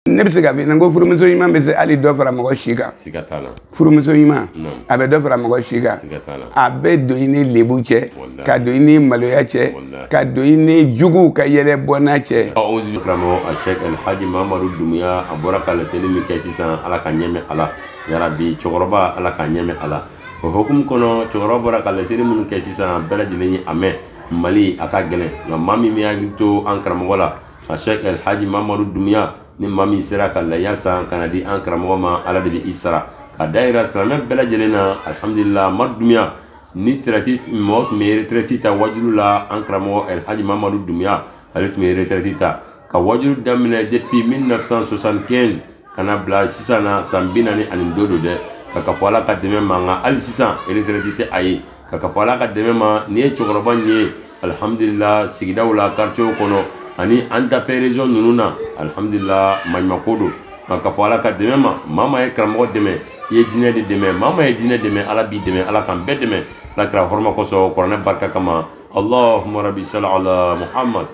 ne bɛ se ka min na n ko furumuso ɲuman bɛ se hali dɔ fara mɔgɔ si kan siga t'a la furumuso ɲuman a bɛ dɔ fara mɔgɔ si kan siga t'a la a bɛ don i ni lebu cɛ ka don i ni maloya cɛ ka don i ni juguw ka yɛlɛ bɔnna cɛ ɔwɔzi karamɔgɔ a sɛk alhaji mamadu dumuya a bɔra ka laseli min kɛ sisan ala ka ɲɛ mɛn a la yarabi cɛkɔrɔba ala ka ɲɛ mɛn a la o hokumu kɔnɔ cɛkɔrɔba bɔra ka laseli minnu kɛ sisan bɛɛ lajɛlen ye a mɛn mali a ka gɛlɛn nka maa min bɛ hakili to an karamɔgɔ la a sheikh alhaji mamadu dumuya ni maa min sera ka laya san ka na di an karamɔgɔ ma ala de bɛ i sara ka da yira silamɛ bɛɛ lajɛlen na alhamdulila ma dumuya ni retirɛti mɔgɔ tun bɛ retirɛti ta wajulu la an karamɔgɔ alhaji mamadu dumuya ale tun bɛ retirɛti ta ka wajulu daminɛ depuis 1975 ka na bila sisan na san bi naani ani dɔ don dɛ k'a kafo ala ka dɛmɛ ma nka hali sisan retirɛti tɛ a ye k'a kafo ala ka dɛmɛ ma nin ye cɛkɔrɔba nin ye alhamdulila sigidaw la quartier kɔnɔ ani an ta fɛ région ninnu na alhamdulila maɲumako don k'a kafo ala ka dɛmɛ ma maa maa ye karamɔgɔ dɛmɛ i ye diinɛ de dɛmɛ maa maa ye diinɛ dɛmɛ ala b'i dɛmɛ ala k'an bɛɛ dɛmɛ ala kira hɔrɔma kosɔn kuranɛ barika kama allahumma rabbi sali ala muhammad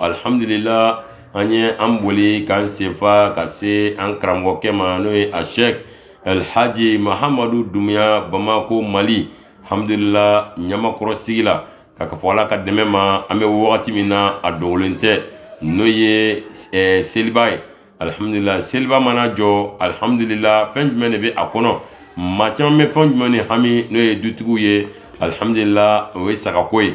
alhamdulila an ye an boli k'an senfa ka se an karamɔgɔkɛ ma n'o ye a sheik alhaji mahamadu dumuya bamako mali alhamdulila ɲamakɔrɔ sigida k'a kafo ala ka dɛmɛ ma an bɛ wagati min na a dogolen tɛ n'o ye eh, seliba ye alhamdulila seliba mana jɔ alhamdulila fɛn jumɛn de bɛ a kɔnɔ maa caman bɛ fɛn jumɛn ni hami n'o ye dutigiw ye alhamdulila o ye sagako ye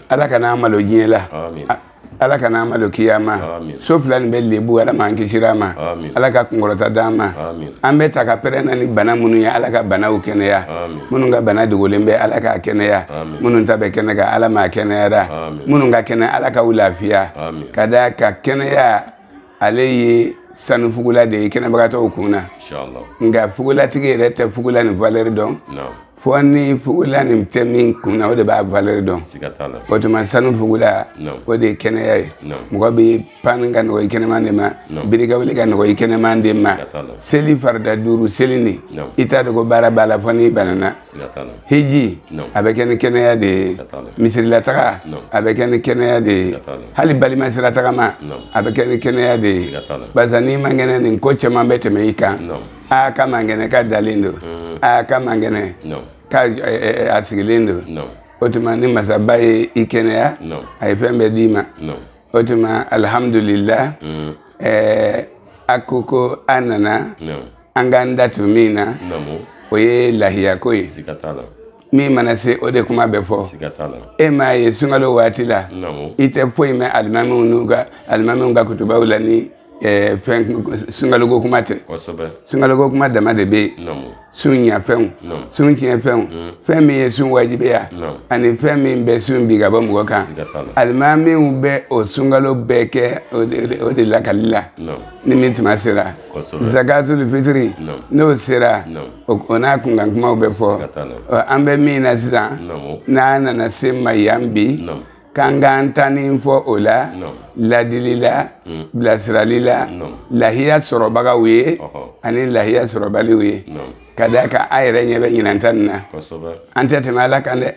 ala kana an malo diɲɛ la ala kana an malo kiyama so fila nin bɛɛ lebu ala m'an kisira a ma ala ka kunkɔrɔta d'an ma an bɛ ta ka pɛrɛn na ni bana minnu ye ala ka banaw kɛnɛya minnu ka bana dogolen bɛ ala k'a kɛnɛya minnu ta bɛ kɛnɛ kan ala m'a kɛnɛyara minnu ka kɛnɛ ala k'aw lafiya ka d'a kan kɛnɛya ale ye sanu fugula de ye kɛnɛbagatɔw kun na nka fugulatigi yɛrɛ tɛ fugula nin valeur dɔn fo ni fugula nin tɛ min kun na o de b'a valeur dɔn o tuma sanu fugula o de ye kɛnɛya ye mɔgɔ bɛ pan ka nɔgɔ i kɛnɛman de ma biri ka wuli ka nɔgɔ i kɛnɛman de ma seli farida duuru seli nin i t'a dɔn ko baara b'a la fo n'i banana hiji a bɛ kɛ ni kɛnɛya de ye misirilataga a bɛ kɛ ni kɛnɛya de ye hali balimasiratagama a bɛ kɛ ni kɛnɛya de ye barisa n'i man kɛnɛ nin ko caman bɛ tɛmɛ i kan aa k'a man kɛnɛ k'a dalen don hmm. aa k'a man kɛnɛ k'a eh, eh, eh, a sigilen don o tuma ni masaba ye i kɛnɛya a ye fɛn bɛɛ d'i ma o tuma alihamudulila hmm. a ko ko a nana an k'an da don min na o ye lahiya ko ye min mana se o de kuma bɛ fɔ e m'a ye sunkalo waati la i tɛ foyi mɛn alimamiw n'u ka alimamiw ka kutubaw la ni eh, fɛn sunkaloko kuma tɛ sunkaloko kuma dama de bɛ yen sun ɲafɛnw sun tiɲɛfɛnw mm. fɛn min ye sun wajibiya ani fɛn min bɛ sun bin ka bɔ mɔgɔ kan alimamiw bɛ o sunkalo bɛɛ kɛ o de lakali la ni min tuma sera zakatul fitiri n'o sera o n'a kunkan kumaw bɛ fɔ an bɛ min na sisan n'a nana s'an ma yan bi k'an k'an ta nin fɔ o la ladili la hmm. bilasirali la lahiya sɔrɔbagaw ye ani lahiya sɔrɔbaliw ye ka d'a kan a yɛrɛ ɲɛ bɛ ɲinan ta nin na an tɛ tɛmɛ ala kan dɛ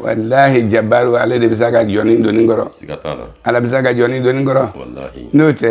walahi jabaru ale de bɛ s'a ka jɔn doni kɔrɔ ala bɛ s'a ka jɔn doni kɔrɔ n'o tɛ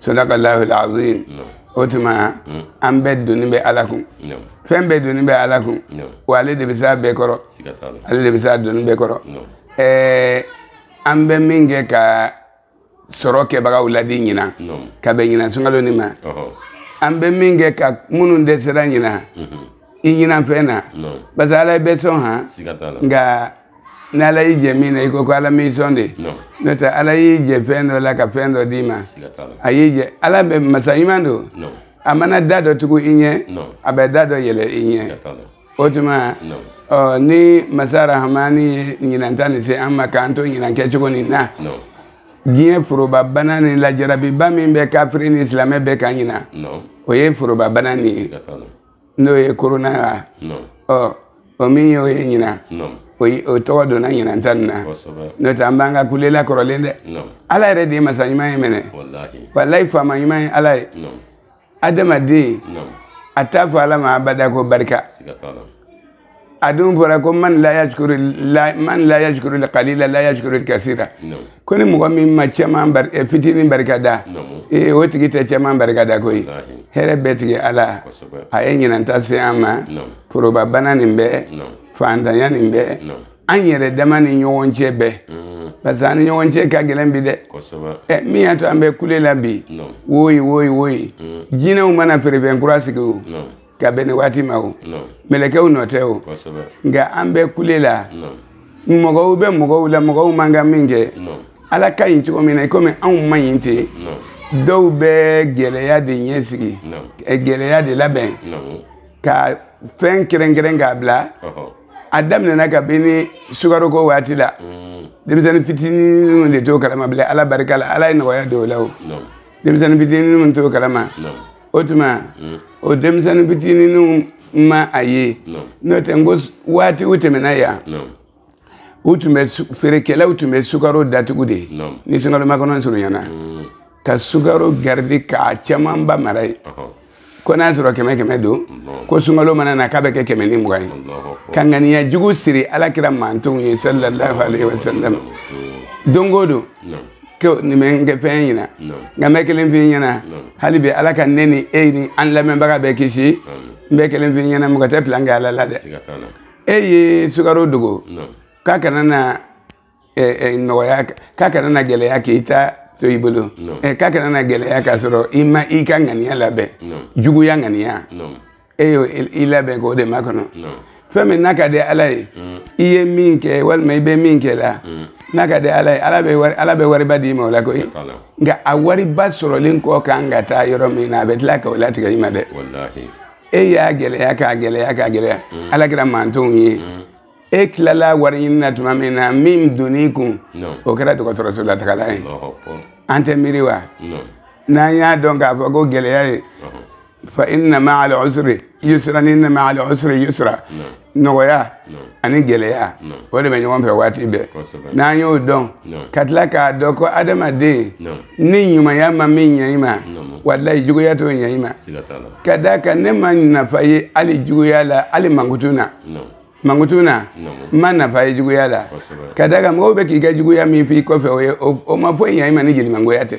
sadaka lahul azim o tuma mm. an bɛɛ doni bɛ ala kun fɛn bɛɛ doni bɛ ala kun wa ale de bɛ s'a bɛɛ kɔrɔ ale de bɛ s'a doni bɛɛ kɔrɔ ɛɛ an bɛ min kɛ ka sɔrɔ kɛbagaw ladi ɲinan ka bɛn ɲinan sunkalo nin ma an bɛ min kɛ ka minnu dɛsɛra ɲinan mm-hmm. i ɲinifɛn na parce que ala ye bɛɛ sɔn han nka ni ala y'i jɛ min na i ko ko ala m'i sɔn de n'o tɛ ala y'i jɛ fɛn dɔ la ka fɛn dɔ d'i ma a y'i jɛ ala bɛ masa ɲuman don a mana da dɔ tugu i ɲɛ a bɛ da dɔ yɛlɛ i ɲɛ o tuma ɔ ni masa rahamani ye ɲinan ta nin se an ma k'an to ɲinan kɛcogo nin na diɲɛ forobabana nin na jarabiba min bɛ kafiri ni silamɛ bɛɛ kan ɲinan o ye forobabana nin ye n'o ye korona ye ɔ o min y'o ye ɲinan o tɔgɔ donna ɲinan ta nin na n'o tɛ an b'an ka kule la kɔrɔlen dɛ ala yɛrɛ de ye masa ɲuman ye mɛnɛ walayi faama ɲuman ye ala ye adamaden a t'a fɔ ala ma abada ko barika a dun fɔra ko man la yashkuru la man la yashkuru la qalila la yashkuru kasira ko ni mɔgɔ min ma caman bari eh, fitinin barika da ee eh, o tigi tɛ caman barika da koyi hɛrɛ bɛɛ tigi ala a ye ɲinan ta se an ma foroba bana nin bɛɛ fantanya nin bɛɛ an yɛrɛ dama ni ɲɔgɔn cɛ bɛɛ mm. parce que an ni ɲɔgɔn cɛ ka gɛlɛn bi dɛ eh, min y'a to an bɛ kule la bi woyi woyi woyi mm. jinɛw ma na feerefɛn kura sigi o ka bɛn nin waati ma o mɛlɛkɛw nɔ tɛ o nka an bɛ kule la mɔgɔw bɛ mɔgɔw la mɔgɔw man kan ka min kɛ ala ka ɲi cogo min na i komi anw man ɲi ten dɔw bɛ gɛlɛya de ɲɛ sigi eh, gɛlɛya de labɛn ka fɛn kɛrɛnkɛrɛn k'a bila a daminɛna ka bɛn ni sukaroko waati la mm. denmisɛnnin fitinin de t'o kalama bilen ala barika la ala ye nɔgɔya don o la o denmisɛnnin fitinin t'o kalama o tuma mm. o denmisɛnnin fitininw ma a ye n'o tɛ n ko waatiw tɛmɛna yan u tun bɛ feerekɛlaw tun bɛ sukaro datugu de ni sunkalomakɔnɔ surunyana mm. ka sukaro garidi k'a camanba mara yen ko n'a sɔrɔ kɛmɛ kɛmɛ don ko sunkalo mana na k'a bɛ kɛ kɛmɛ ni mugan ye ka ŋaniya jugu siri alakira mantonw ye sallallahu alaihi wasallam don o don nin bɛ n kɛ fɛn ɲɛna nka n bɛ kelen f'i ɲɛna hali bi ala ka ne ni e ni an lamɛnbaga bɛɛ kisi n bɛ kelen f'i ɲɛna mɔgɔ tɛ pilan kɛ ala la dɛ e ye sukaro dogo k'a kana na nɔgɔya k'a kana na gɛlɛya k'i ta to i bolo k'a kana na gɛlɛya k'a sɔrɔ i ma i ka ŋaniya labɛn juguya ŋaniya e y'o i labɛn k'o de makɔnɔ fɛn min n'a ka di ala ye mm. i ye min kɛ walima i bɛ min kɛ la mm. n'a ka di ala ye ala bɛ wari ala bɛ wariba d'i ma o la koyi nka a wariba sɔrɔlen ka kan ka taa yɔrɔ min na a bɛ tila ka o latigɛ i ma dɛ e y'a gɛlɛya k'a gɛlɛya k'a gɛlɛya mm. alakira mantonw ye e tilala wari ɲini na tuma min na min donn'i kun o kɛra dɔgɔtɔrɔso latagala ye an tɛ miiri wa n'an y'a dɔn k'a fɔ ko gɛlɛya ye fa inna ma'al usri yusra ni inna ma'al usri yusra nɔgɔya ani gɛlɛya o de bɛ ɲɔgɔn fɛ waati bɛɛ n'an y'o dɔn ka tila k'a dɔn ko adamaden ni ɲumanya ma min ɲɛ i ma walayi juguya t'o ɲɛ i ma ka d'a kan ne ma nafa ye hali juguya la hali mankutu na mankutu na n ma nafa ye juguya la ka d'a kan mɔgɔw bɛ k'i ka juguya min f'i kɔfɛ o ye o ma foyi ɲɛ i ma ni jelimangoya tɛ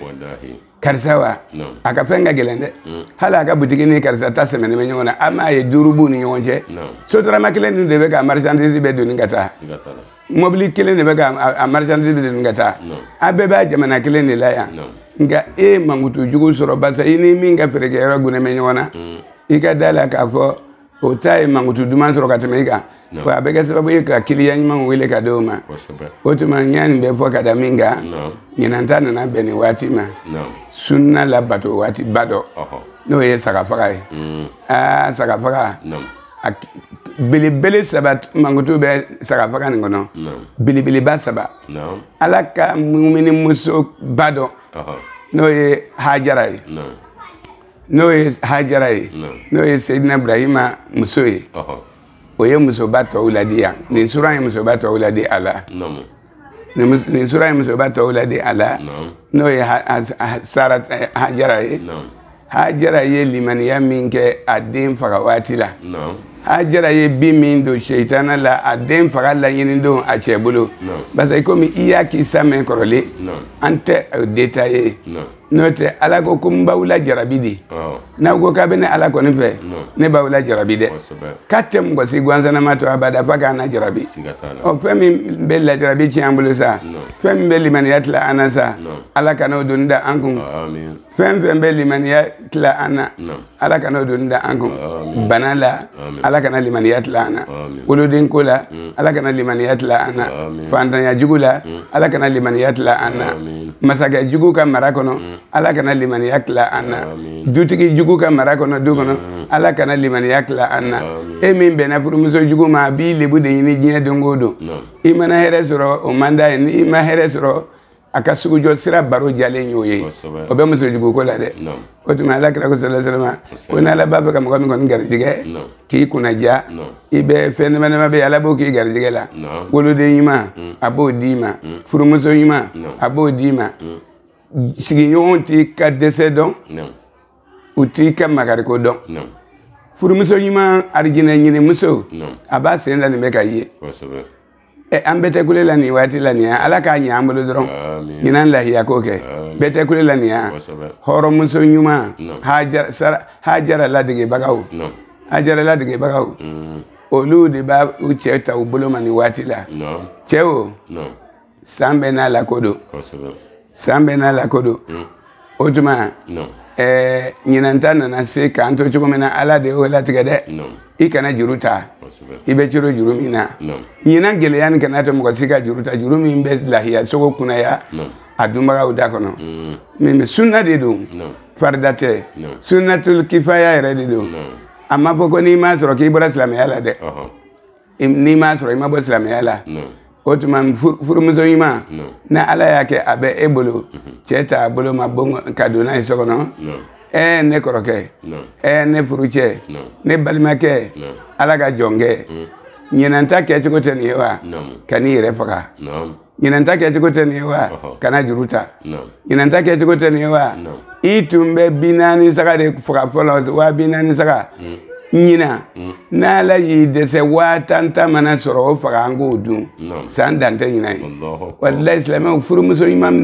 karisa wa a ka fɛn ka gɛlɛn dɛ mm. hali a ka butigi ni karisa ta sɛmɛnen bɛ ɲɔgɔn na an m'a ye duuru b'u ni ɲɔgɔn cɛ sotarama kelen nin de bɛ ka marchandise bɛɛ doni ka taa mɔbili kelen de bɛ ka a marchandise bɛɛ doni ka taa a bɛɛ bɛ jamana kelen de la yan nka e mankutu jugu sɔrɔ barisa i ni min ka feerekɛyɔrɔ gunnen bɛ ɲɔgɔn na mm. i ka d'a la k'a fɔ o ta ye mankutu duman sɔrɔ ka tɛmɛ i kan wa a bɛ kɛ sababu ye ka kiliyan ɲumanw wele ka di o ma o tuma n ye nin bɛɛ fɔ ka da min kan ɲinan ta nana bɛn nin waati ma sunna labato waati ba dɔ n'o ye sagafaga ye mm. aa sagafaga a belebele saba mankutu bɛ sagafaga nin kɔnɔ belebeleba saba ala ka mumini muso ba dɔ n'o ye hajara ye n'o ye hajara ye n'o ye seyidina ibrahima muso ye o ye musoba tɔw ladi yan nin sura ye musoba tɔw ladi a la nin sura ye musoba tɔw ladi a la n'o ye sara eh, hajara ye hajara ye limaniya min kɛ a den faga waati la hajara ye bin min don seitana la a den faga laɲini don a cɛ bolo parce que komi i y'a kisa mɛn kɔrɔlen an tɛ o détailler n'o tɛ ala ko ko n b'aw lajarabi de n'aw ko k'aw bɛ ne ala kɔni fɛ ne b'aw lajarabi dɛ k'a tɛ mɔgɔ si gansanama to abada f'a k'an lajarabi ɔ fɛn min bɛ lajarabi tiɲɛ an bolo sa fɛn min bɛ limaniya tila an na sa ala kan'o doni da an kun fɛn fɛn bɛ limaniya tila an na ala kana doni da an kun bana la ala kana limaniya tila an na woloden ko la mm. ala kana limaniya tila an na fantanya jugu la mm. ala kana limaniya tila an na masakɛ jugu ka mara kɔnɔ mm. ala kana limaniya tila an na dutigi jugu ka mara kɔnɔ du kɔnɔ ala kana limaniya tila an na e min bɛnna furumuso jugu ma a b'i lebu de ɲini diɲɛ don o don i mana hɛrɛ sɔrɔ o man d'a ye ni i ma hɛrɛ sɔrɔ a ka sugujɔ sira baro diyalen y'o ye o bɛ musojugu ko la dɛ o tuma ala kira ko sala salama ko ni ala b'a fɛ ka mɔgɔ min kɔni garijɛgɛ k'i kunnadiya i bɛ fɛn nɛɛma nɛɛma bɛɛ ala b'o k'i garijɛgɛ la woloden ɲuman mm. a b'o d'i ma mm. furumuso ɲuman a b'o d'i ma mm. sigiɲɔgɔnw t'i ka dɛsɛ dɔn u t'i ka makariko dɔn furumuso ɲuman arijinɛ ɲini muso a b'a sen da nin bɛɛ kan yen ɛ an bɛɛ tɛ kule la nin waati la nin ye ala k'a ɲɛ an bolo dɔrɔn Amin. ɲinan lahiya ko kɛ Amin. bɛɛ tɛ kule la nin ye Kosɛbɛ. hɔrɔnmuso ɲuman Naamu. Hajara- Sara- hajara ladegebagaw Naamu. hajara ladegebagaw Mm. olu de b'u cɛ ta u bolo ma nin waati la Naamu. cɛ o Naamu. san bɛɛ n'a lako don Kosɛbɛ. san bɛɛ n'a lako don mm. o tuma eh, ɲinan ta nana se k'an to cogo min na ala de y'o latigɛ dɛ i kana juru ta i bɛ coron juru min na ɲinan gɛlɛya nin kan'a to mɔgɔ si ka juru ta juru min bɛ lahiya sogo kunaya a dunbagaw da kɔnɔ mm. nin sunna de don farida tɛ sunnatul kifaya yɛrɛ de don a ma fɔ ko n'i m'a sɔrɔ k'i bɔra silamɛya la dɛ n'i m'a sɔrɔ i ma bɔ silamɛya la o tuma furumuso ɲuman ni ala y'a kɛ a bɛ e bolo mhm. cɛ t'a bolo ma ka don n'a ye so kɔnɔ ɛɛ ne kɔrɔkɛ ɛɛ ne furucɛ ne balimakɛ ala ka jɔnkɛ mhm. ɲinan ta kɛcogo tɛ nin ye wa kan'i yɛrɛ faga ɲinan ta kɛcogo tɛ nin ye wa kana juru ta ɲinan ta kɛcogo tɛ nin ye wa i tun bɛ bi naani saga de faga fɔlɔ waa bi naani saga mm. ɲinan mm. n'ala y'i dɛsɛ waa tan ta mana sɔrɔ o faga an k'o dun san dan tɛ ɲinan ye walayi silamɛw furumuso ɲuman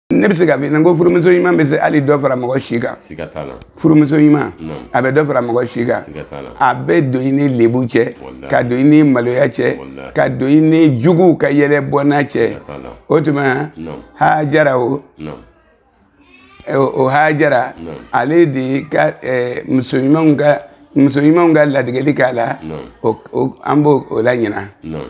ne bɛ se ka min na n ko furumuso ɲuman bɛ se hali dɔ fara mɔgɔ si kan siga t'a la furumuso ɲuman a bɛ dɔ fara mɔgɔ si kan siga t'a la a bɛ don i ni lebu cɛ ka don i ni maloya cɛ ka don i ni juguw ka yɛlɛ bɔnna cɛ o tuma hajara o o hajara ale de ka muso ɲumanw ka muso ɲumanw ka ladegeli k'a la an b'o laɲini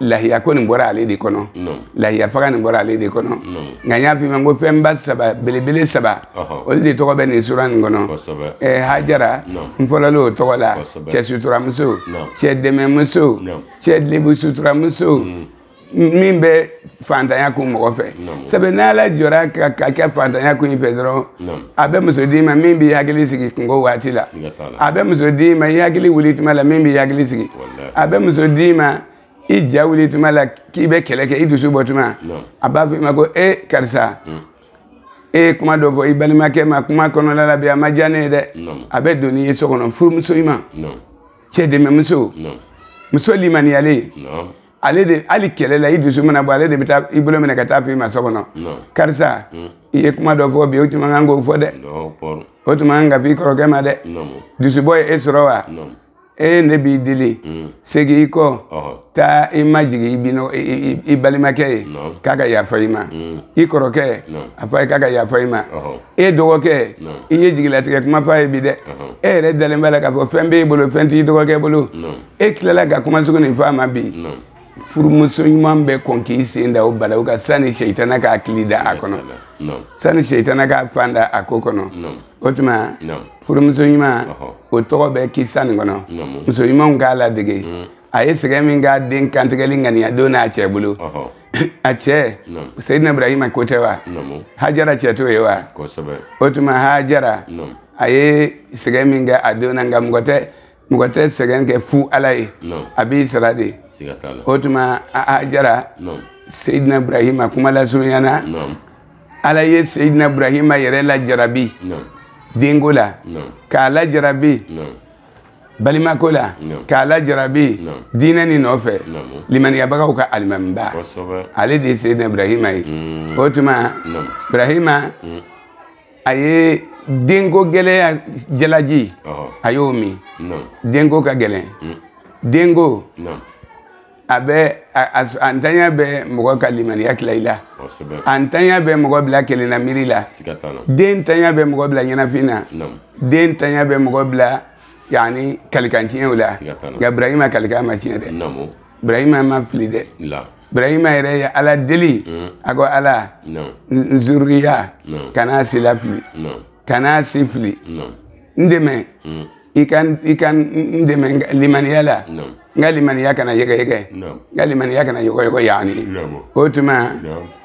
lahiya ko nin bɔra ale de kɔnɔ lahiya faga nin bɔra ale de kɔnɔ nka n y'a f'i ma ko fɛnba saba belebele saba olu de tɔgɔ bɛ nin sura nin kɔnɔ ɛɛ hajara n fɔlɔla o tɔgɔ la cɛ suturamuso cɛ dɛmɛmuso cɛ lebu suturamuso min bɛ fantanya kun mɔgɔ fɛ sabu n'ala jɔra ka ka kɛ fantanya kun i fɛ dɔrɔn a bɛ muso d'i ma min b'i hakili sigi kunko waati la a bɛ muso d'i ma i hakili wuli tuma la min b'i hakili sigi a bɛ muso d'i ma i ja wuli tuma la k'i bɛ kɛlɛ kɛ i dusu bɔ tuma a b'a fɔ i ma ko e karisa e ye kuma dɔ fɔ i balimakɛ ma kuma kɔnɔla la bi a ma diya ne ye dɛ a bɛ don n'i ye so kɔnɔ furumuso ɲuman cɛ dɛmɛmuso muso limaniyalen ale de hali kɛlɛ la i dusu mana bɔ ale de bɛ taa i bolo minɛ ka taa f'i ma so kɔnɔ karisa hmm. i ye kuma dɔ fɔ bi i tun man kan k'o fɔ dɛ o tun man kan ka f'i kɔrɔkɛ ma dɛ dusubɔ ye e sɔrɔ wa e ne b'i deli hmm. segin i kɔ taa i majigin i bino i balimakɛ ye k'a ka yafa i ma hmm. i kɔrɔkɛ a fɔ a ye k'a ka yafa i ma e dɔgɔkɛ i ye jigilatigɛ kuma fɔ a ye bi dɛ e yɛrɛ dalen b'a la k'a fɔ fɛn b'e bolo fɛn t'i dɔgɔkɛ bolo e tilala ka kuma sugu nin fɔ a ma bi furumuso ɲuman bɛ kɔn k'i sen da o bala o kan sani seitana k'a kili da a kɔnɔ sani seitana k'a fan da a ko kɔnɔ o tuma furumuso ɲuman o tɔgɔ bɛ kisa nin kɔnɔ muso ɲumanw k'a ladege mm. a ye sɛgɛn min k'a den kantigɛli ŋaniya don n'a cɛ bolo a cɛ seyidina ibrahima ko tɛ wa hajara cɛ t'o ye wa o tuma hajara a ye sɛgɛn min kɛ a den na nka mɔgɔ tɛ mɔgɔ tɛ sɛgɛn kɛ fu ala ye a b'i sara de o tuma hajara seyidina ibrahima kuma lasurunyana ala ye seyidina ibrahima yɛrɛ lajarabi denko la k'a lajarabi balimako la k'a lajarabi diinɛ nin nɔfɛ limaniyabagaw ka alimamiba ale de ye seyidina ibrahima ye mm. o tuma ibrahima mm. a ye denko gɛlɛya jalaji a y'o min denko ka gɛlɛn mm. denko a bɛ a ntanya bɛ mɔgɔ ka limaniya tila i la a ntanya bɛ mɔgɔ bila kelenna miiri la den ntanya bɛ mɔgɔ bila ɲɛnafin na den ntanya bɛ mɔgɔ bila yanni kalikan tiɲɛw la nka burahima kalikan ma tiɲɛ dɛ burahima ma fili dɛ burahima yɛrɛ ye ala deli mm. a ko ala n zuriya kana sila fili kana si fili n dɛmɛ mm. i ka i ka n dɛmɛ limaniya la n ka limaniya kana yɛgɛyɛgɛ n ka limaniya kana yɔgɔyɔgɔ yaani o tuma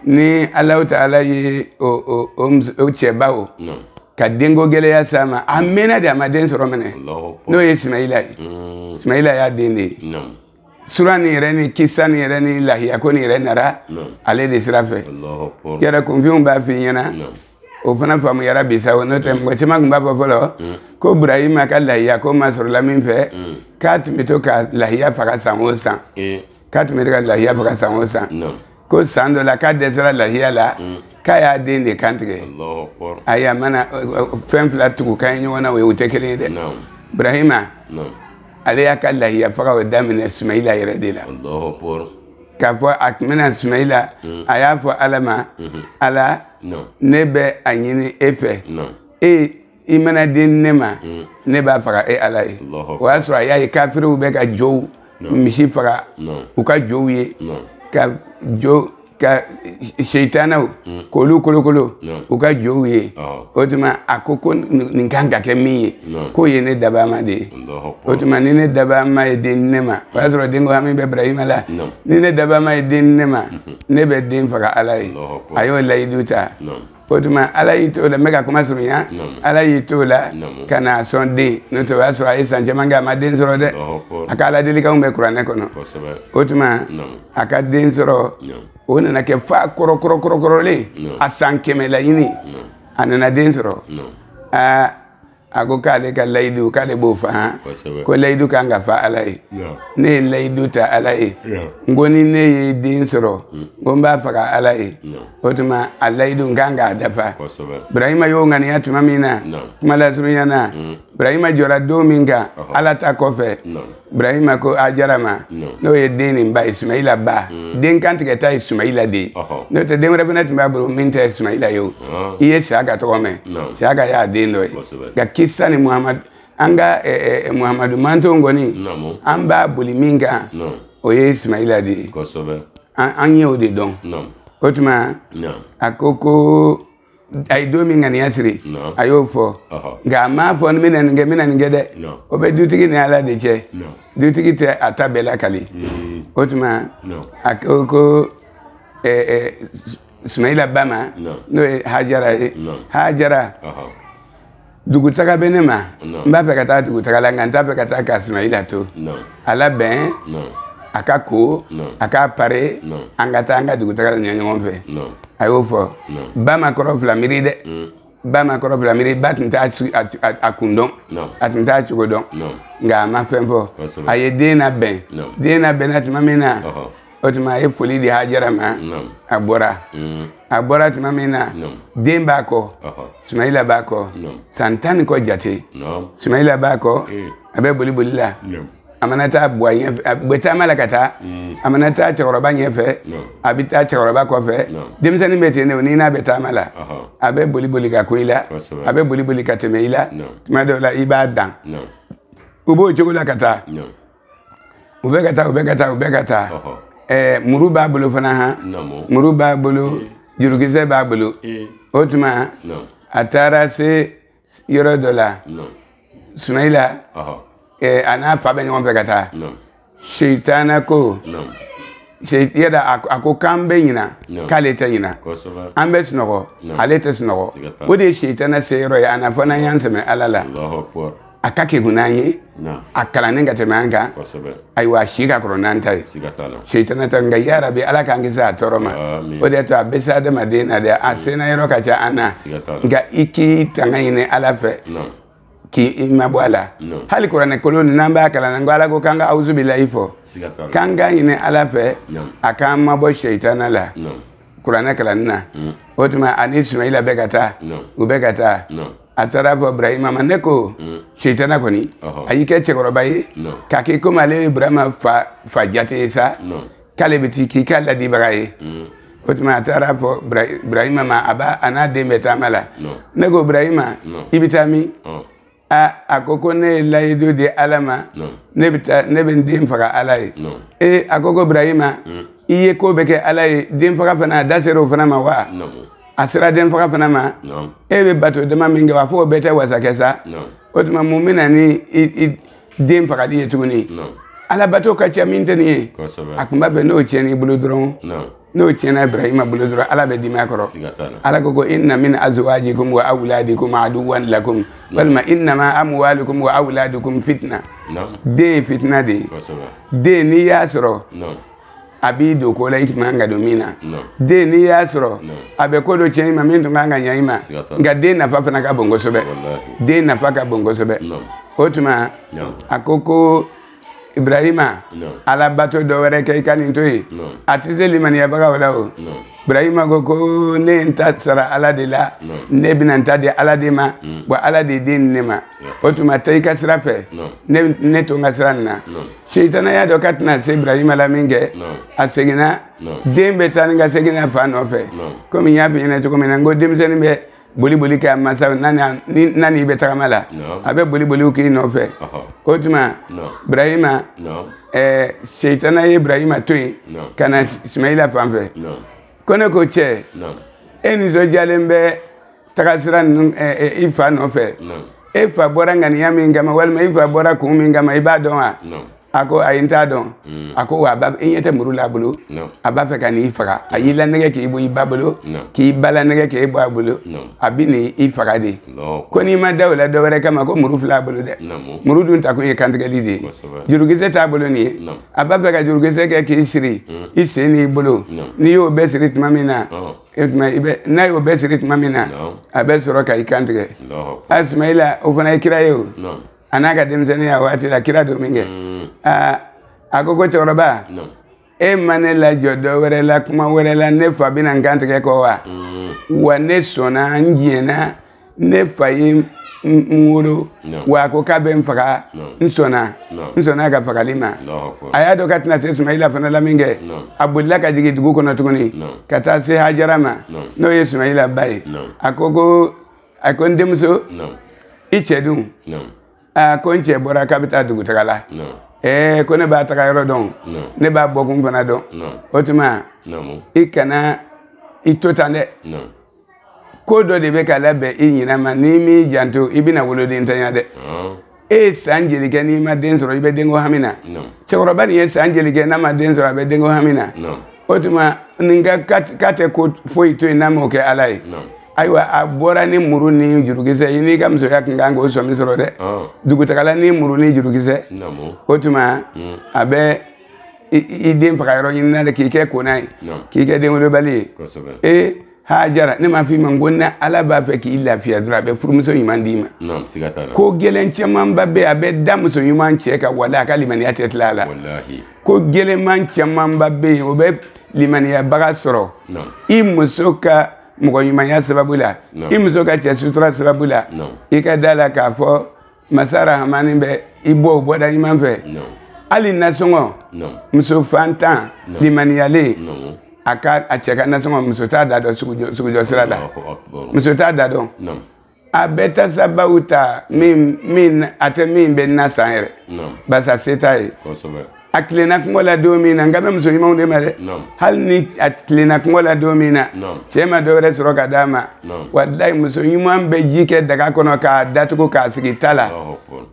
ni alahu taala ye o cɛba o ka denko gɛlɛya s'a ma a mɛɛnna de a ma den sɔrɔ mɛnɛ n'o ye sumayila ye mm. sumayila y'a den de ye sura nin yɛrɛ ni kisa nin yɛrɛ ni lahiya ko nin yɛrɛ nara ale de sira fɛ yɛrɛ kunfinw b'a f'i ɲɛna o fana faamuyara bi sa o n'o tɛ mm. mɔgɔ caman tun b'a fɔ fɔlɔ mm. ko burahima ka lahiya kuma sɔrɔla min fɛ k'a tun bɛ to ka lahiya faga san o san eh. k'a tun bɛ to ka lahiya faga san o san ko san dɔ la k'a dɛsɛra lahiya la mm. k'a y'a den de kantigɛ ayi a mana fɛn fila tugu kan ye ɲɔgɔn na o ye o tɛ kelen ye dɛ burahima ale y'a ka lahiya faga o daminɛ sumayila yɛrɛ de la k'a fɔ a tun bɛna sumayila mm. a y'a fɔ ala ma mm-hmm. ala ne bɛ a ɲini e fɛ e i mana den di ne ma mm. ne b'a faga e ala ye o y'a sɔrɔ a y'a ye kafiriw bɛ ka jow misi faga u ka jow ye ka jo ka seitanaw mm. k'olu kolokolo u ka jow ye o tuma a ko ko nin kan ka kɛ min ye k'o ye ne dabaama de ye o tuma ni ne dabaama ye den di ne ma o y'a sɔrɔ den ko hami bɛ ibrahima la ni ne dabaama ye den di ne ma mm-hmm. ne bɛ den faga ala ye a y'o layidu ta o tuma ala y'i to o la n bɛ ka kuma surunya ala y'i to o la ka n'a sɔn den n'o tɛ o y'a sɔrɔ a ye san caman kɛ a ma den sɔrɔ dɛ a ka aladelikanw bɛ kuranɛ kɔnɔ o tuma a ka den sɔrɔ o nana kɛ fa kɔrɔkɔrɔkɔrɔkɔrɔlen a san kɛmɛ laɲini a nana den sɔrɔ aa a ko k'ale ka layidu k'ale b'o fa ko layidu kan ka fa ala ye ne ye layidu ta ala ye n ko ni ne ye den sɔrɔ mm. n ko n b'a faga ala ye o tuma a layidu n kan k'a dafa burahima y'o ŋaniya tuma min na kuma lasurunya na mm. burahima jɔra don min kan ala ta kɔfɛ burahima ko hajara ma n'o ye den nin ba ye sumayila ba mm. den kantigɛta ye sumayila de ye n'o tɛ den wɛrɛ fana tun b'a bolo min tɛ sumayila ye o ah. i ye siyaka tɔgɔ mɛn siyaka y'a den dɔ ye nka kisa nin muhamadu an ka eh, eh, eh, muhamadu mantonw kɔni an b'a boli min kan o ye sumayila de ye an ye o de dɔn o tuma a ko ko a ye don min ŋaniya siri a y'o fɔ nka a m'a fɔ n bɛna nin kɛ n bɛna nin kɛ dɛ o bɛ dutigi ni ala de cɛ dutigi tɛ a ta bɛɛ lakali mm. o tuma a ko ko sumayila ba ma n'o ye hajara ye hajara dugutaga bɛ ne ma n b'a fɛ ka taa dugutaga la nka n t'a fɛ ka taa ka sumayila to a labɛn a ka ko a k'a pare an ka taa an ka dugutaga la ɲɛ ɲɔgɔn fɛ a y'o fɔ ba ma kɔrɔ fila miiri dɛ mm. ba ma kɔrɔ fila miiri ba tun t'a kun dɔn a tun t'a cogo dɔn nka a ma fɛn fɔ a ye den labɛn den labɛnna tuma min na o tuma a ye foli di hajara ma a bɔra mm. a bɔra tuma min na den b'a kɔ sumayila b'a kɔ san tan ni kɔ jate sumayila b'a kɔ eh. a bɛ boli boli la a mana taa bɔ a ɲɛfɛ a bɛ taama la ka taa mm. a mana taa cɛkɔrɔba ɲɛfɛ a bɛ taa cɛkɔrɔba kɔfɛ denmisɛnnin bɛ ten de n'i n'a bɛ taama la a bɛ boli boli ka kun i la a bɛ boli boli ka tɛmɛ i la tuma dɔw la i b'a dan u b'o cogo la ka taa u bɛ ka taa u bɛ ka taa u bɛ ka taa ɛɛ muru b'a bolo fana han muru b'a bolo jurukisɛ b'a bolo o tuma a taara se yɔrɔ dɔ la sumayila ɛɛ a n'a fa bɛ ɲɔgɔn fɛ ka taa seitana ko yɛrɛ a ko k'an bɛ ɲina k'ale tɛ ɲina an bɛ sunɔgɔ ale tɛ sunɔgɔ o de ye seitana se yɔrɔ ye an na fo n'an y'an sɛmɛ ala la a ka kegun n'an ye a kalannen ka tɛmɛ an kan ayiwa a si ka kɔrɔ n'an ta ye seitana ta nka yarabi ala k'an kisi a tɔɔrɔ ma o de to a bɛ se adamaden na dɛ a senna yɔrɔ ka ca an na nka i k'i tanga ɲini ala fɛ k'i mabɔ a la hali kuranɛ kolo nin n'an b'a kalan n ko ala ko k'an ka awuzu bilahi fɔ k'an k'a ɲini ala fɛ a k'an mabɔ seitana la kuranɛ kalanni na o tuma a ni sumayila bɛ ka taa u bɛ ka taa a taara a fɔ burahima ma ne ko mm. seitana kɔni a y'i kɛ cɛkɔrɔba ye k'a kɛ komi ale ye burahima fa jate ye sa k'ale bɛ ti k'i ka laadibaga ye mm. o tuma a taara a fɔ burahima ma a b'a a n'a den bɛ taama la ne ko burahima i bɛ taa min a a ko ko ne ye layidu di ala ma ne bɛ taa ne bɛ n den faga ala ye ee a ko ko burahima mm. i ye ko bɛɛ kɛ ala ye den faga fana a da sera o fana ma wa a sera den faga fana ma e bɛ bato dama min kɛ wa fo o bɛɛ tɛ wasa kɛ sa o tuma mun bɛ na ni den fagali ye tuguni ala bato ka ca min tɛ nin ye a tun b'a fɛ n'o tiɲɛn'i bolo dɔrɔn n'o tiɲɛna ibrahima bolo dɔrɔn ala bɛ dim'a kɔrɔ ala ko ko inna min azwajikum wa awladikum aduwan lakum walima innama amwalukum wa awladukum fitna den ye fitina de ye den n'i y'a sɔrɔ a b'i don ko la i man kan ka don min na den n'i y'a sɔrɔ a bɛ ko dɔ tiɲɛ i ma min tun kan ka ɲɛ i ma nka den nafa fana ka bon kosɛbɛ den nafa ka bon kosɛbɛ o tuma a ko ko ibrahima ala bato dɔ wɛrɛ kɛ i ka nin to yen a tɛ se limaniyabagaw la o ibrahima ko ko ne ye n ta sara ala de la ne bɛna n ta di ala de ma mm. wa ala de ye den di ne ma o tuma taa i ka sira fɛ ne to n ka sira nin na seitana y'a dɔn k'a tɛna se ibrahima la min kɛ a seginna den bɛ taa ni ka segin a fa nɔfɛ komi n y'a f'i ɲɛna cogo min na n ko denmisɛnnin bɛ boli boli kɛ a mansaw na n'i bɛ tagama la a bɛ boli boliw k'i nɔfɛ o tuma ibrahima seitana ye ibrahima to yen ka na ismaila fan fɛ ko ne ko cɛ e nisɔndiyalen bɛ taga sira nin na i fa nɔfɛ e fa bɔra ŋaniya min kama walima i fa bɔra kun min kama i b'a dɔn wa a ko ayi n t'a dɔn mm. a ko wa i ɲɛ tɛ muru la a bolo a b'a fɛ ka n'i faga a y'i lanɛgɛ k'i bɔ i ba bolo k'i ba lanɛgɛ k'e bɔ a bolo a bɛna i faga de ko n'i ma da o la dɔwɛrɛ kama ko muru filɛ a bolo dɛ muru dun takun ye kantigɛli de ye jurukisɛ t'a bolo nin ye a b'a fɛ ka jurukisɛ kɛ k'i siri mm. i sen n'i bolo n'i y'o bɛɛ siri tuma min na e tuma i bɛ n'a y'o bɛɛ siri tuma min na a bɛ sɔrɔ ka i kan tigɛ a sumayila o fana ye kira ye o a n'a ka denmisɛnninya waati la kira don min kɛ mm. aa a ko ko cɛkɔrɔba e ma ne lajɔ dɔ wɛrɛ la kuma wɛrɛ la ne fa bɛna n kan tigɛ kɔ wa mm. wa ne sɔnna n jɛnna ne fa ye n wolo wa a ko k'a bɛ n faga n sɔnna n sɔnna a ka fagali ma a y'a dɔn k'a tɛna se sumayila fana la min kɛ a bolila ka jigin dugu kɔnɔ tuguni ka taa se hajara ma n'o ye sumayila ba ye a ko ko a ko n denmuso i cɛ dun a ko n cɛ bɔra k'a bɛ taa dugutaga la ɛɛ ko ne b'a taga yɔrɔ dɔn ne b'a bɔkun fana dɔn o tuma i kana i to tan dɛ ko dɔ de bɛ ka labɛn i ɲinɛ ma n'i m'i janto i bɛna woloden ntanya dɛ e ye san joli kɛ n'i ma den sɔrɔ i bɛ denko hami na cɛkɔrɔba nin ye san joli kɛ n'a ma den sɔrɔ a bɛ denko hami na o tuma nin ko k'a tɛ ko foyi to yen n'a m'o kɛ ala ye ayiwa a bɔra ni muru ni jurukisɛ i n'i ka musoya tun kan k'o sɔmi sɔrɔ dɛ dugutagala ni muru ni jurukisɛ o tuma a bɛ i den faga yɔrɔ ɲini na de k'i kɛ kona ye k'i kɛ denwolobali ye ee hajara ne m'a f'i ma ko ni ala b'a fɛ k'i lafiya dɔrɔn a bɛ furumuso ɲuman d'i ma ko gɛlɛn camanba bɛ a bɛ da muso ɲuman cɛ kan wale a ka limaniya tɛ tila a la ko gɛlɛnman camanba bɛ yen o bɛ limaniyabaga sɔrɔ i muso ka mɔgɔ ɲumanya sababu la i muso ka cɛ sutura sababu la i ka da la k'a fɔ masa rahamani bɛ i bɔ o bɔda ɲuman fɛ hali nasɔngɔ muso fantan limaniyalen a ka a cɛ ka nasɔngɔ muso t'a da dɔn sugujɔ sira la muso t'a da dɔn a bɛ ta sababu ta min min a tɛ min bɛ na san yɛrɛ barisa se t'a ye a tilenna kɔngɔ la don min na n kan bɛ muso ɲumanw de ma dɛ hali ni a tilenna kɔngɔ la don min na cɛ ma dɔ wɛrɛ sɔrɔ ka d'a ma walayi muso ɲuman bɛ ji kɛ daga kɔnɔ k'a datugu k'a sigi ta la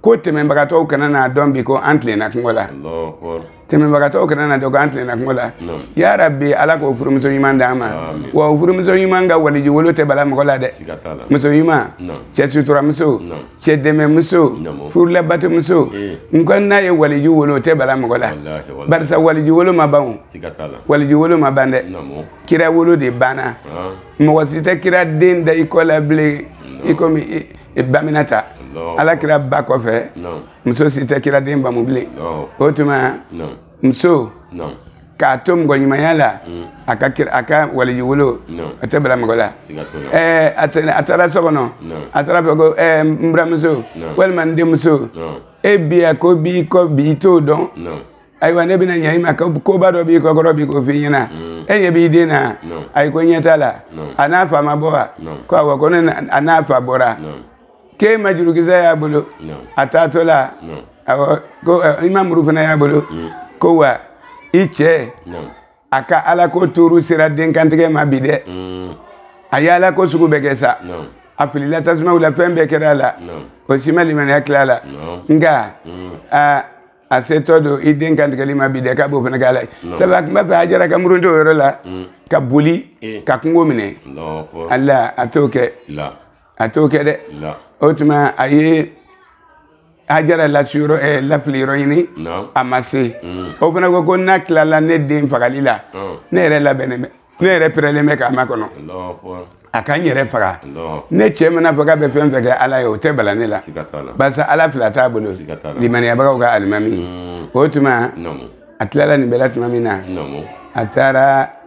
ko tɛmɛbagatɔw kana n'a dɔn bi ko an tilenna kɔngɔ la tɛmɛbagatɔw kana n'a dɔn ko an tilenna kɔngɔ la yarabi ala k'o furumuso ɲuman d'an ma wa o furumuso ɲuman ka waliju wolo tɛ bala mɔgɔ la dɛ muso ɲuman cɛ suturamuso cɛ dɛmɛmuso furu labatomuso eh. n ko n'a ye waliju wolo o tɛ bala mɔgɔ la barisa waliju wolo ma ban o waliju wolo ma ban dɛ kira wolo de banna ah. mɔgɔ si tɛ kira den da i kɔ la bilen i komi baminata ala kira ba kɔfɛ muso si tɛ kira den bamu bilen o tuma muso k'a to mɔgɔ ɲumanya la mm. a ka kira a ka waliju wolo a tɛ bala mɔgɔ la ɛɛ a taara so kɔnɔ a taara fɛ ko ɛɛ n buramuso walima n denmuso e bɛ yan ko b'i kɔ bi i t'o dɔn ayiwa ne bɛna ɲɛ i ma koba dɔ b'i kɔkɔrɔ bi k'o f'i ɲɛna mm. e ɲɛ b'i den na ayi ko ɲɛ t'a la a n'a fa ma bɔ wa ko awɔ kɔni a n'a fa bɔra k'e ma jurukisɛ y'a bolo a taatɔ la ko i ma muru fana y'a bolo mm. ko wa i cɛ a ka ala ko tuuru sera denkantigɛ ma bi dɛ mm. a ye ala ko sugu bɛɛ kɛ sa a filila tasumaw la fɛn bɛɛ kɛra a la o si ma limaniya tila a la nka mm. a setɔ don i den kantigɛli ma bi dɛ k'a b'o fana k'a la sabu a tun b'a fɛ hajara ka muruti o yɔrɔ la ka boli eh. ka kungo minɛ ala a t'o kɛ a t'o kɛ dɛ o tuma a ye hajara lasiyɔrɔ ɛ eh, lafili yɔrɔ ɲini a ma se mm. o fana ko ko n'a tilala ne den fagali la ne yɛrɛ labɛnnen bɛ ne yɛrɛ pɛrɛlen bɛ k'a makɔnɔ a ka n yɛrɛ faga ne cɛ mana a fɔ k'a bɛ fɛn fɛn kɛ ala ye o tɛ bala ne la barisa ala fila t'a bolo limaniyabagaw ka alimami mm. o tuma a tilala nin bɛɛ la tuma min na a taara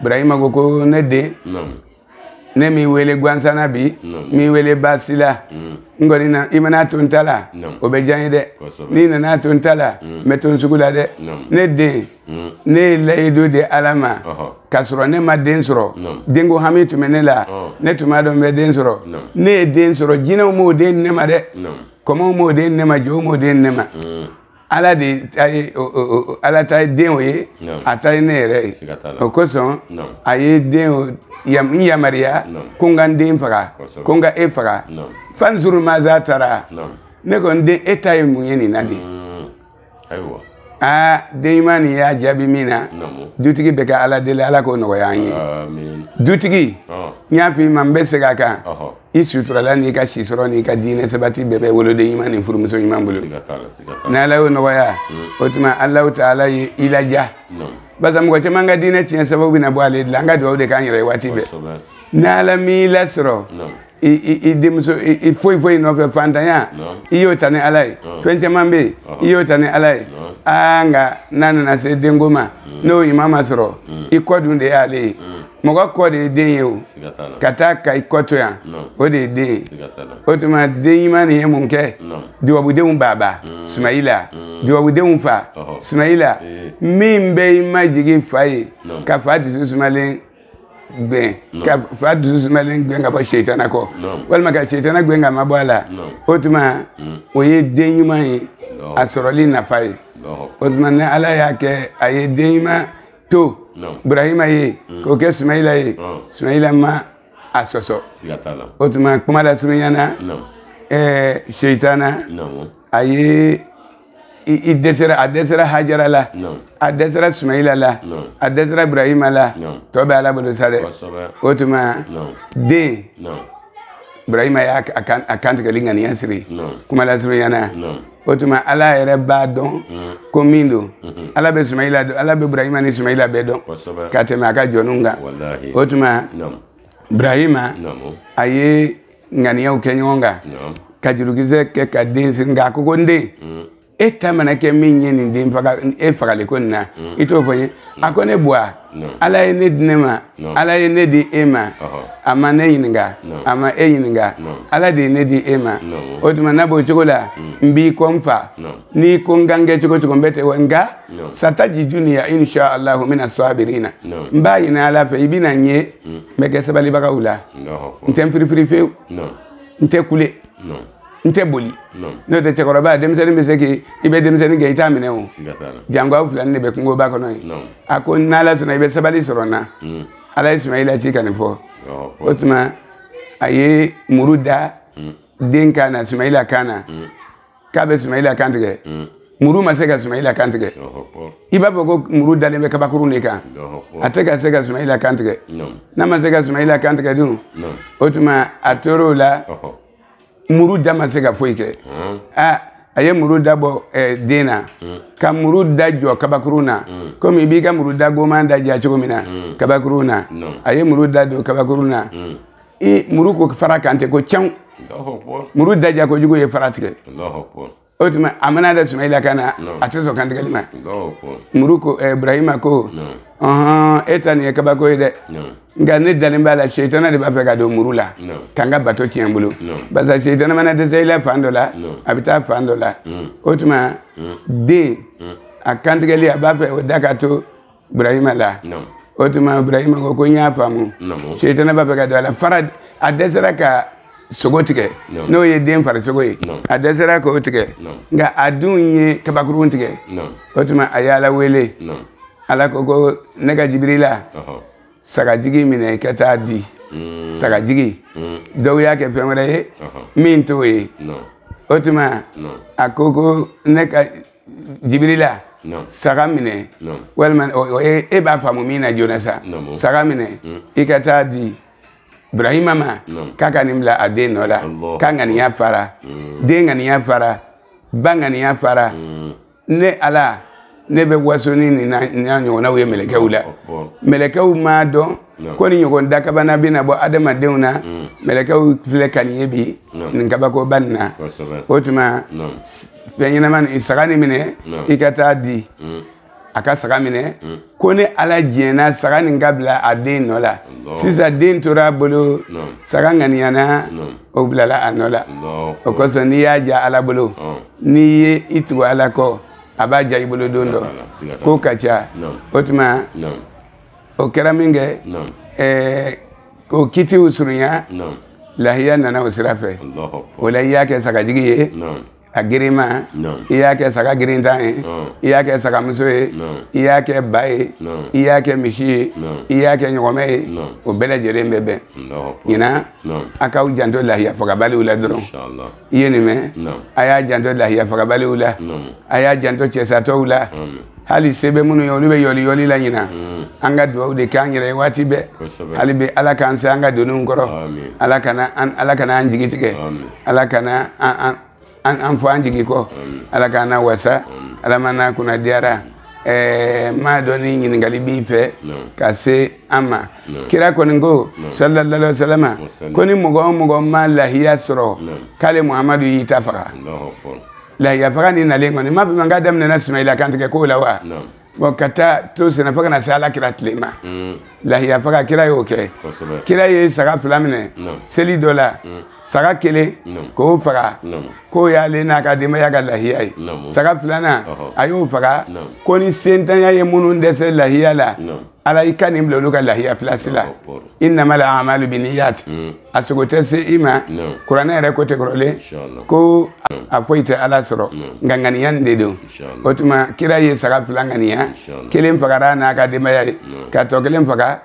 burahima ko ko ne den ne m'i wele gansana bi n m'i wele baasi la mm. n kɔni na i mana to n ta la o bɛ diya n ye dɛ n'i nana to n ta la n bɛ to n sugu la dɛ ne den mm. ne ye layidu di ala ma k'a sɔrɔ ne ma den sɔrɔ denko hami tun bɛ ne la ne tun m'a dɔn n bɛ den sɔrɔ ne ye den sɔrɔ jinɛw m'o den di ne ma dɛ kɔmɔw m'o den di ne ma jow m'o den di ne ma mm. ala de ta ye ala ta ye den o ye a ta ye ne yɛrɛ ye o kosɔn a ye n yamaruya ko n ka n den faga ko n ka e faga fanzuru maza tara ne ko n den e ta ye mun ye nin na de ayiwa aa den ɲuman nin y'a jaabi min na dutigi bɛ ka ala deli ala k'o nɔgɔya an ye dutigi n y'a f'i ma n bɛ segin a kan i suturala n'i ka si sɔrɔ n'i ka diinɛ sabati bɛɛ bɛ woloden ɲuman ni furumuso ɲuman bolo ni ala y'o nɔgɔya mm. o tuma alahu taala ye i laja barisa mɔgɔ caman ka diinɛ tiɲɛ sababu bɛna bɔ ale de la an ka dugawu de k'an yɛrɛ ye waati bɛɛ ni ala m'i lasɔrɔ i denmuso i foyi foyi nɔfɛ fantanya i y'o ta ni ala ye fɛn caman bɛ yen i y'o ta ni ala ye aa nka n'a nana se denko ma mm. n'o ɲuman ma sɔrɔ mm. i kɔ dun de y'ale ye mɔgɔ kɔ de ye den ye o ka taa ka i kɔ to yan o de ye den ye o tuma den ɲuman nin ye mun kɛ dubabudenw baba mm. sumayila mm. dubabudenw fa sumayila eh. min bɛ i majigin fa ye ka fa dusu sumalen gɛn ka fa dusu sumalen gɛn ka bɔ seitana kɔ walima ka seitana gɛn ka mabɔ a la o tuma mm. o ye den ɲuman ye a sɔrɔli nafa ye o tuma ni ala y'a kɛ a ye den ɲuman to burahima ye mm. k'o kɛ sumayila ye sumayila ma a sɔsɔ o tuma kuma lasurunya na ɛɛ seitana a ye a dɛsɛra hajara la a dɛsɛra sumayila la a dɛsɛra burahima la tɔ bɛ ala bolo sa dɛ o tuma de burahima y'a kantigɛli ŋaniya siri kuma lasurunya na o tuma ala yɛrɛ b'a dɔn mm. ko min don mm-hmm. ala bɛ sumayila dɔn ala bɛ burahima ni sumayila bɛɛ dɔn ka tɛmɛ a ka jɔnw kan o tuma burahima a ye ŋaniyaw kɛ ɲɔgɔn kan ka jurukisɛ kɛ ka den siri nka a ko ko n den mm. e ta mana kɛ min ye n den e fagali ko nin na mm. i t'o fɔ n ye a ko ne buwa ala ye ne di ne ma ala ye ne di e ma a ma ne ɲininka a ma e ɲininka ala de ye ne di e ma o tuma n'a b'o cogo la mm. n b'i kɔ n fa n'i ko n ka n kɛ cogo cogo n bɛ tɛ wa nka satajiduni insha allahu mina sabirina n b'a ɲini ala fɛ i bɛna n ye mm. n bɛ kɛ sabalibagaw la n tɛ n firifiri fewu n tɛ kule n n tɛ boli n'o tɛ cɛkɔrɔba denmisɛnnin bɛ se k'i i bɛ denmisɛnnin gɛn i t'a minɛ o jango aw fila ni de bɛ kungoba kɔnɔ yen a ko n'ala sɔnna i bɛ sabali sɔrɔ n na mm. ala ye sumayila ci ka nin fɔ o tuma a ye muru da mm. den kan na sumayila kan na mm. k'a bɛ sumayila kan tigɛ muru ma se ka sumayila kan tigɛ i b'a fɔ ko muru dalen bɛ kabakurun de kan a tɛ ka se ka sumayila kan tigɛ n'a ma se ka sumayila kan tigɛ dun o tuma a tor'o la muru da ma se ka foyi kɛ hmm. ah, a ye muru da bɔ eh, den na hmm. ka muru da jɔ kabakurun na hmm. komi i b'i ka muru da goman da ja cogo min na kabakurun na a ye muru da don kabakurun na i muru ko fara kantigɛ ko cɛw muru da ja kojugu ye fara tigɛ o tuma a mana da sumayila kan na a tɛ sɔn kantigɛli ma muru ko eh, ibrahima ko ɔhɔn e ta nin ye kabako ye dɛ nka ne dalen b'a la seitana de b'a fɛ ka don muru la ka n ka bato tiɲɛ n bolo barisa seitana mana dɛsɛ i la fan dɔ la a bɛ taa fan dɔ la o tuma den a kantigɛli a b'a fɛ o de ka to ibrahima la o tuma ibrahima ko ko n y'a faamu setanɛ b'a fɛ ka don a la fara a dɛsɛra ka sogo tigɛ n'o ye den farisogo ye a dɛsɛra k'o tigɛ nka a dun ye kabakurun tigɛ o tuma a y'ala wele ala ko ko ne ka jibirila sagajigi minɛ ka taa di mm. sagajigi mm. dɔw y'a kɛ fɛn wɛrɛ ye min t'o ye o tuma a ko ko ne ka jibirila saga minɛ walima e b'a faamu min na joona sa saga minɛ hmm. i ka taa di ibrahima ma k'a ka nin bila a den nɔ la k'a ŋaniya fara hmm. den ŋaniya fara ba ŋaniya fara hmm. ne ala ne bɛ waso ni nin n'a ɲɔgɔnnaw ye mɛlɛkɛw la mɛlɛkɛw m'a dɔn ko nin ɲɔgɔn dakabana bɛna bɔ adamadenw na mɛlɛkɛw filɛ ka nin ye bi nin kabakoba nin na o tuma fɛn ɲɛnama nin saga nin minɛ i ka taa di mm. a ka saga minɛ mm. ko ne ala diɲɛna saga nin ka bila a den nɔ la sisan den tora a bolo saga ŋaniyana o bilala a nɔ la o kosɔn n'i y'a ja ala bolo n'i ye i tugu ala kɔ a b'a ja i bolo don dɔ ko ka ca o tuma o kɛra min kɛ k'o kiti o surunya lahiya nana o sira fɛ o la i y'a kɛ sagajigi ye a gerema i y'a kɛ saga gerentan ye i y'a kɛ sagamuso ye i y'a kɛ ba ye i y'a kɛ misi ye i y'a kɛ ɲɔgɔmɛ ye o bɛɛ lajɛlen bɛ bɛn ɲinan a k'aw janto lahiya fagabaliw la dɔrɔn i ye nin mɛn a y'a janto lahiyafagabaliw la a y'a janto cɛsatɔw la hali se bɛ minnu ye olu bɛ yɔli yɔli la ɲinan mm. an ka dugawu de k'an yɛrɛ ye waati bɛɛ hali bi ala k'an se an ka doniw kɔrɔ ala kana ala kana an jigi tigɛ ala kana an fɔ an jigi kɔ ala k'an nawasa ala m'an nakunnadiyara n m'a dɔn ni ɲininkali b'i fɛ ka se an ma kira kɔni ko sallallahu wasalama ko ni mɔgɔ o mɔgɔ ma lahiya sɔrɔ k'ale muhamadu y'i ta faga lahiya faga nin nalen kɔni n m'a fɔ a ma k'a daminɛna sumayila kantigɛ ko la wa bɔn ka taa to senna fo ka na se ala kira tile ma lahiya faga kira y'o kɛ kira ye saga fila minɛ seli dɔ la saga kelen k'o faga k'o y'ale n'a ka denbaya ka lahiya ye saga filanan a y'o faga ko ni setanya ye minnu dɛsɛ lahiya la ala i ka nin bila olu ka lahiya pilasi la inama lamalu bi niyati mm. a sogo tɛ se i ma kuranɛ yɛrɛ ko ten kɔrɔlen ko a foyi tɛ ala sɔrɔ nka ŋaniya nin de don o tuma kira ye saga fila ŋaniya kelen fagara n'a ka denbaya ye ka tɔ kelen faga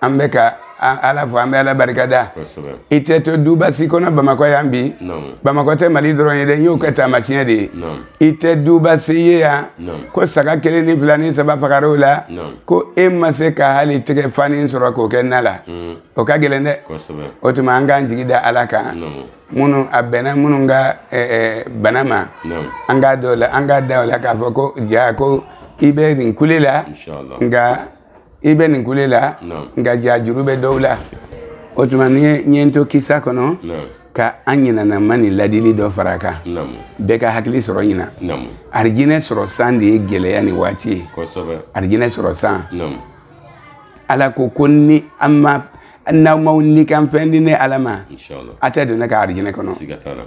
an bɛ ka ala fo an bɛ ala barika da i tɛ to duba si kɔnɔ bamakɔ yan bi bamakɔ tɛ mali dɔrɔn ye dɛ n y'o kɛ taamasiɲɛ de ye i tɛ duba si ye yan ko saga kelen ni fila ni saba fagara o la ko e ma se ka hali tɛgɛ fani sɔrɔ k'o kɛ na la mm. o ka gɛlɛn dɛ o tuma an k'an jigi da ala kan minnu a bɛnna minnu ka bana ma an k'a dɔw la an k'a da o la k'a fɔ ko ja ko i bɛ nin kule la nka i bɛ nin kule la nka ja juru bɛ dɔw la o tuma ni n ye n to kisa kɔnɔ ka an ɲinanama ni ladili dɔ fara a kan bɛɛ ka hakili sɔrɔ ɲinan arijinɛ sɔrɔ san de ye gɛlɛya nin waati ye arijinɛ sɔrɔ san ala ko ko ni an ma n'aw ma nikanfɛn di ne ala ma aw tɛ don ne ka arijinɛ kɔnɔ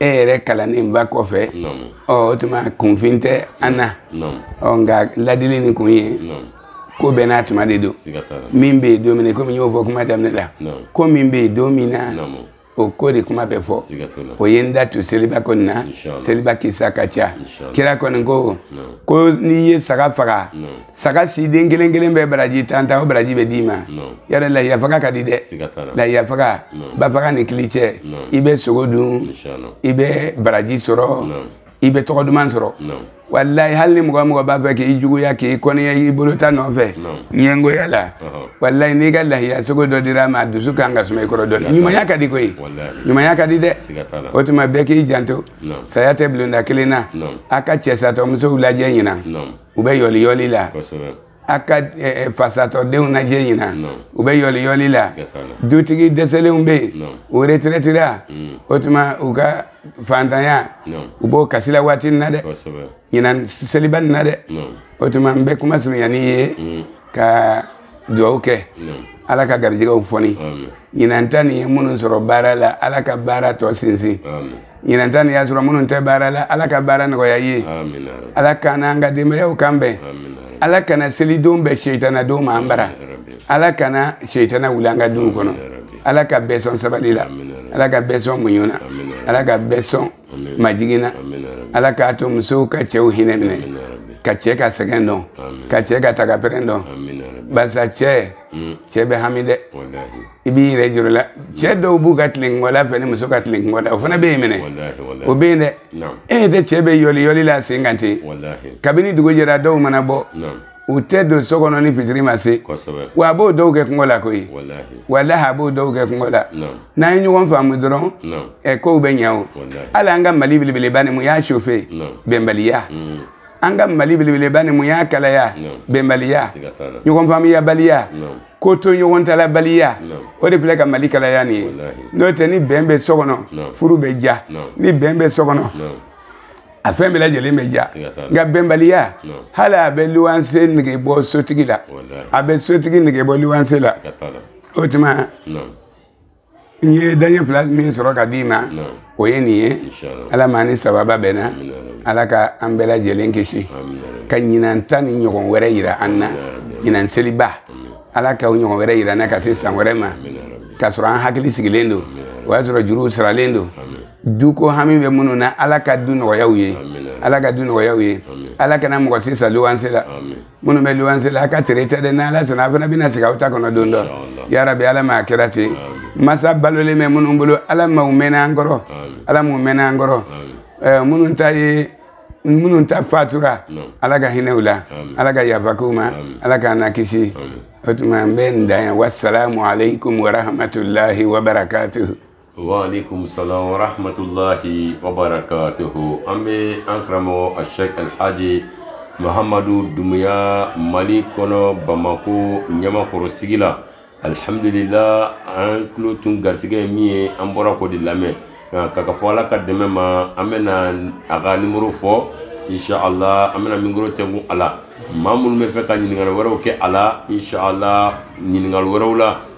e yɛrɛ kalannenba kɔfɛ ɔ o tuma kunfin tɛ an na ɔ nka ladili nin kun ye ko bɛɛ n'a tuma de don min bɛ yen don min na komi n y'o fɔ kuma daminɛ la ko min bɛ yen don min na o ko de kuma bɛ fɔ o ye n da to seliba ko nin na seliba kisa ka ca kira kɔni ko ko n'i ye saga faga saga siden kelen kelen bɛɛ baraji tan tan o baraji bɛ d'i ma yɛrɛ lahiya faga ka di dɛ lahiya faga ba faga ni kili cɛ i bɛ sogo dun i bɛ baraji sɔrɔ i bɛ tɔgɔ duman sɔrɔ walayi hali ni mɔgɔ mɔgɔ b'a fɛ k'i juguya k'i kɔniya i bolo ta nɔfɛ ɲɛngoya la walayi n'i ka lahiya sogo dɔ dir'a ma a dusu kan ka suma i kɔrɔ dɔɔni ɲumanya ka di koyi ɲumanya ka di dɛ o tuma bɛɛ k'i janto saya tɛ bulonda kelen na a ka cɛsatɔmusow lajɛ ɲinan u bɛ yɔliyɔli la a ka fasatɔdenw lajɛ ɲinan u bɛ yɔliyɔli la dutigi dɛsɛlenw bɛ yen u retirɛtira mm. o tuma u ka fantanya u b'o kasi la waati nin na dɛ ɲinan seliba nin na dɛ o tuma n bɛ kuma surunya n'i ye mm. ka dugawu kɛ ala ka garijɛgɛw foni ɲinan ta nin ye minnu sɔrɔ baara la ala ka baara tɔ sinsin ɲinan ta nin y'a sɔrɔ minnu tɛ baara la ala ka baara nɔgɔya u ye ala k'an n'an ka denbayaw kan bɛn ala kana selidon bɛn seitana don ma an bara ala kana seitana wuli an ka duw kɔnɔ ala ka bɛɛ sɔn sabali la ala ka bɛɛ sɔn muɲu na ala ka bɛɛ sɔn majigin na ala k'a to musow ka cɛw hinɛ minɛ ka cɛ ka sɛgɛn dɔn ka cɛ ka tagapɛrɛn dɔn barisa cɛ cɛ bɛ hami dɛ i b'i yɛrɛ jɔrɔ la cɛ dɔw b'u ka tilenkɔla fɛ ni muso ka tilenkɔla o fana bɛ yen minɛ o bɛ yen dɛ e ɲɛ tɛ cɛ bɛ yɔli yɔli la sen kan ten kabini dugu jɛra dɔw mana bɔ u tɛ don so kɔnɔ ni fitiri ma se wa a b'o dɔw kɛ kɔngɔ la koyi walahi a b'o dɔw kɛ kɔngɔ la n'an ye ɲɔgɔn faamu dɔrɔn ɛ kow bɛ ɲɛ o hali an ka mali belebeleba nin mun y'a sofe bɛnbaliya mm. an ka mali belebeleba nin mun y'a kalaya bɛnbaliya ɲɔgɔn faamuyabaliya kotoɲɔgɔntalabaliya o de filɛ ka mali kalaya nin ye n'o tɛ ni bɛn bɛ so kɔnɔ furu bɛ diya ni bɛn bɛ so kɔnɔ a fɛn bɛɛ lajɛlen bɛ diya nka bɛnbaliya hali a bɛ luwanse nege bɔ sotigi la a bɛ sotigi nege bɔ luwanse la o tuma n ye daɲɛ fila min sɔrɔ ka d'i ma o ye nin ye ala m'an ni sababa bɛnna ala ka an bɛɛ lajɛlen kisi ka ɲinan ta nin ɲɔgɔn wɛrɛ yira an na ɲinan seliba ala ka o ɲɔgɔn wɛrɛ yira an na ka se san wɛrɛ ma k'a sɔrɔ an hakili sigilen don o y'a sɔrɔ juruw saralen don duko hami bɛ minnu na ala ka du nɔgɔya u ye ala ka du nɔgɔya u ye ala kana mɔgɔ si sa luwanse la minnu bɛ luwanse la a ka tɛrɛ tɛ dɛ ni ala sɔnna a fana bɛna sigi aw ta kɔnɔ don dɔ yarabi ala ma a kɛra ten masa balolen bɛ minnu bolo ala ma u mɛnna an kɔrɔ ala m'u mɛnna an kɔrɔ minnu ta ye minnu ta fatura ala ka hinɛ u la ala ka yafa k'u ma ala k'an lakisi o tuma n bɛ n dan yan wasalamu aleykum warahmatulahi wabarakatuhu waaleykum salaam wa rahmatulahi wa barakatuhu an bɛ an karamɔgɔ ashek alhaji mahamadu dumuya mali kɔnɔ bamako ɲamakɔrɔ sigi la alihamudulila an tulo tun garisɛgɛ ye min ye an bɔra k'o de lamɛn nka ka ka fɔ ala ka dɛmɛ ma an bɛna a ka nimɔrɔ fɔ inshallah an bɛna mikoro tugu a la maa minnu b'a fɛ ka ɲininkali wɛrɛw kɛ a la inshallah ɲininkali wɛrɛw la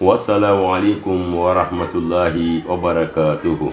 wasalaamualeykum wa rahmatulahi wa barakatuhu.